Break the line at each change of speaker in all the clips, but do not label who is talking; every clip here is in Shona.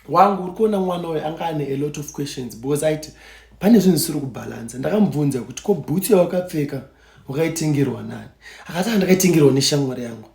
wangu uri kuona mwana uyu anga ane a lot of questions because aiti pane zvinhu zvisiri kubhalansa ndakamubvunza kuti ko bhutsu yawakapfeka wakaitengerwa nani akati andakaitengerwa neshamwari yangu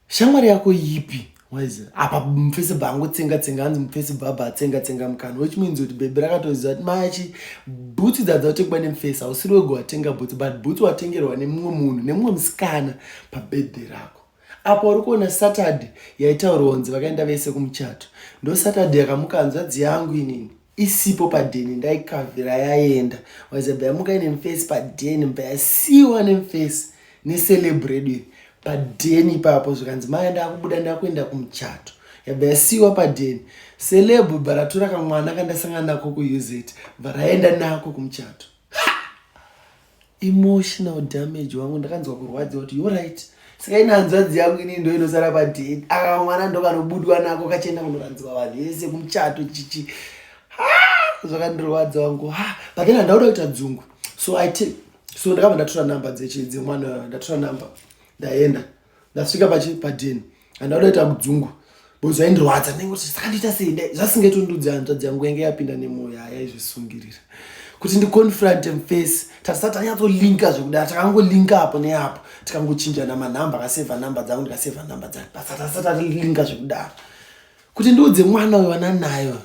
shamwari yako yipi waize apa mufesi bha angotsenga tsenga anzi mufesi bhabha atsenga tsenga mukana which means kuti bhebhi rakatoziva kuti machi bhutsu dzadza watekwa nemufesi hausiri wega watenga bhutsu but bhutsu watengerwa nemumwe munhu nemumwe musikana pabedhe rako apo uri kuona saturday yaitaurwa kunzi vakaenda vese kumuchato ndo saturday yakamuka hanzvadzi yangu inini isipo padheni ndaikavhira yaenda wazabva yamuka ine mfesi padheni mba yasiwa nemfesi neceleb redu iri padheni ipapo zvikanzi maya ndakubuda ndakuenda kumuchato yabva yasiwa padheni celeb bva ratora kamwana kandasangana nako kuuz bva raenda nako kumuchato emotional damage wangu ndakanzwa kurwadziwa kuti yo right saka ine hanzvadzi yangu inii ndo inosara padheni aka mwana ndokanobudwa nako kachienda kunorandzirwa vanhu yese kumuchato chichi zvakandirwadza wangu ha but then handauda kuita dzungu so i so ndakabva ndatora number dzemwana ndatora number ndaenda ndasvika pachi padeni handakuda kuita kudzungu bozi aindirwadza ndinenge kuti zvakandiita sei dai zvasingaiti ndudzi hanzvadzi yangu yange yapinda nemwoyo yaya izvisungirira kuti ndiconfront him face tasati tanyatsolinka zvekudara takangolinka apo neapo tikangochinjana manhamba akaseva nhamba dzangu ndikaseva nhamba dzake basa tasati tatilinka zvekudara kuti ndiudze mwana uyo vananayo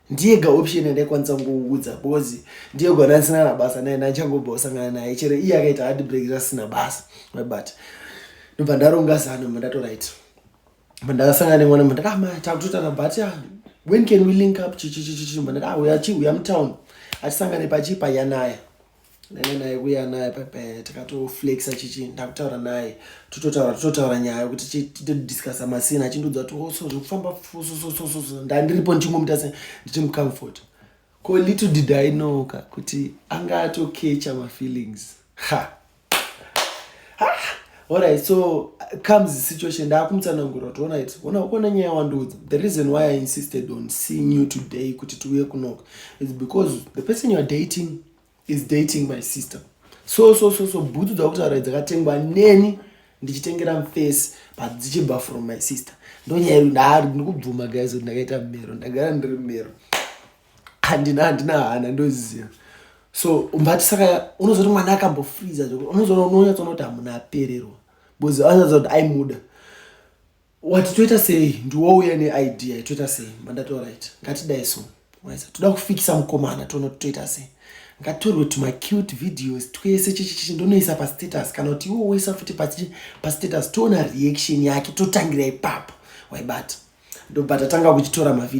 ndiye ga option yandaikwanisa kungoudza bcoz ndiye gwana ndisina na basa naye ndachangobva kusangana naye chero iye akaita hard break rasina basa but ndobva ndaronga zano mba ndatorit mba ndakasangana nemwana mba ndakama ah, takutotana but ya ah, when can we link up chichichichichi mba ndati ah uya chi uya mutown atisangane pachipa yanaya ndainge naye kuya naye pepe tikatoflexa chichi ndakutaura naye tototaura tototaura nyaya yokuti titodiscusa masina achindiudza kuti oso oh, zvekufamba fusososososo ndandiripo ndichingomita se nditi mucomfort ko little did i know ka kuti anga atokecha mafeelings ha alright so comes the situation ndaakumutsanangura kuti onit ona ukona nyaya wandiudza the reason why i insisted on seeing you today kuti tiuye kunoka is because the person youare dating is dating my sister so so so so bhutsu dzakutaura dzakatengwa neni ndichitengera mface but dzichibva from my sister ndonyaya iri ndaari ndikubvuma guys kuti ndakaita mero ndagara ndiri mero handina handina hana ndoziva so but saka unozoti mwana akambofriza zvokuti unozoona unonyatsoona kuti hamuna apererwa because anyaza kuti aimuda wati toita sei ndiwo uya neidea toita sei mandati orit ngatidai so waisa toda kufikisa mukomana toona kuti toita sei ngatorwe kuti macute videos twese chichichichi ndonoisa pastatus kana kuti iwo woisa futi pastatus toona reaction yake totangira ipapo waibata ndobva tatanga kuchitora mavideo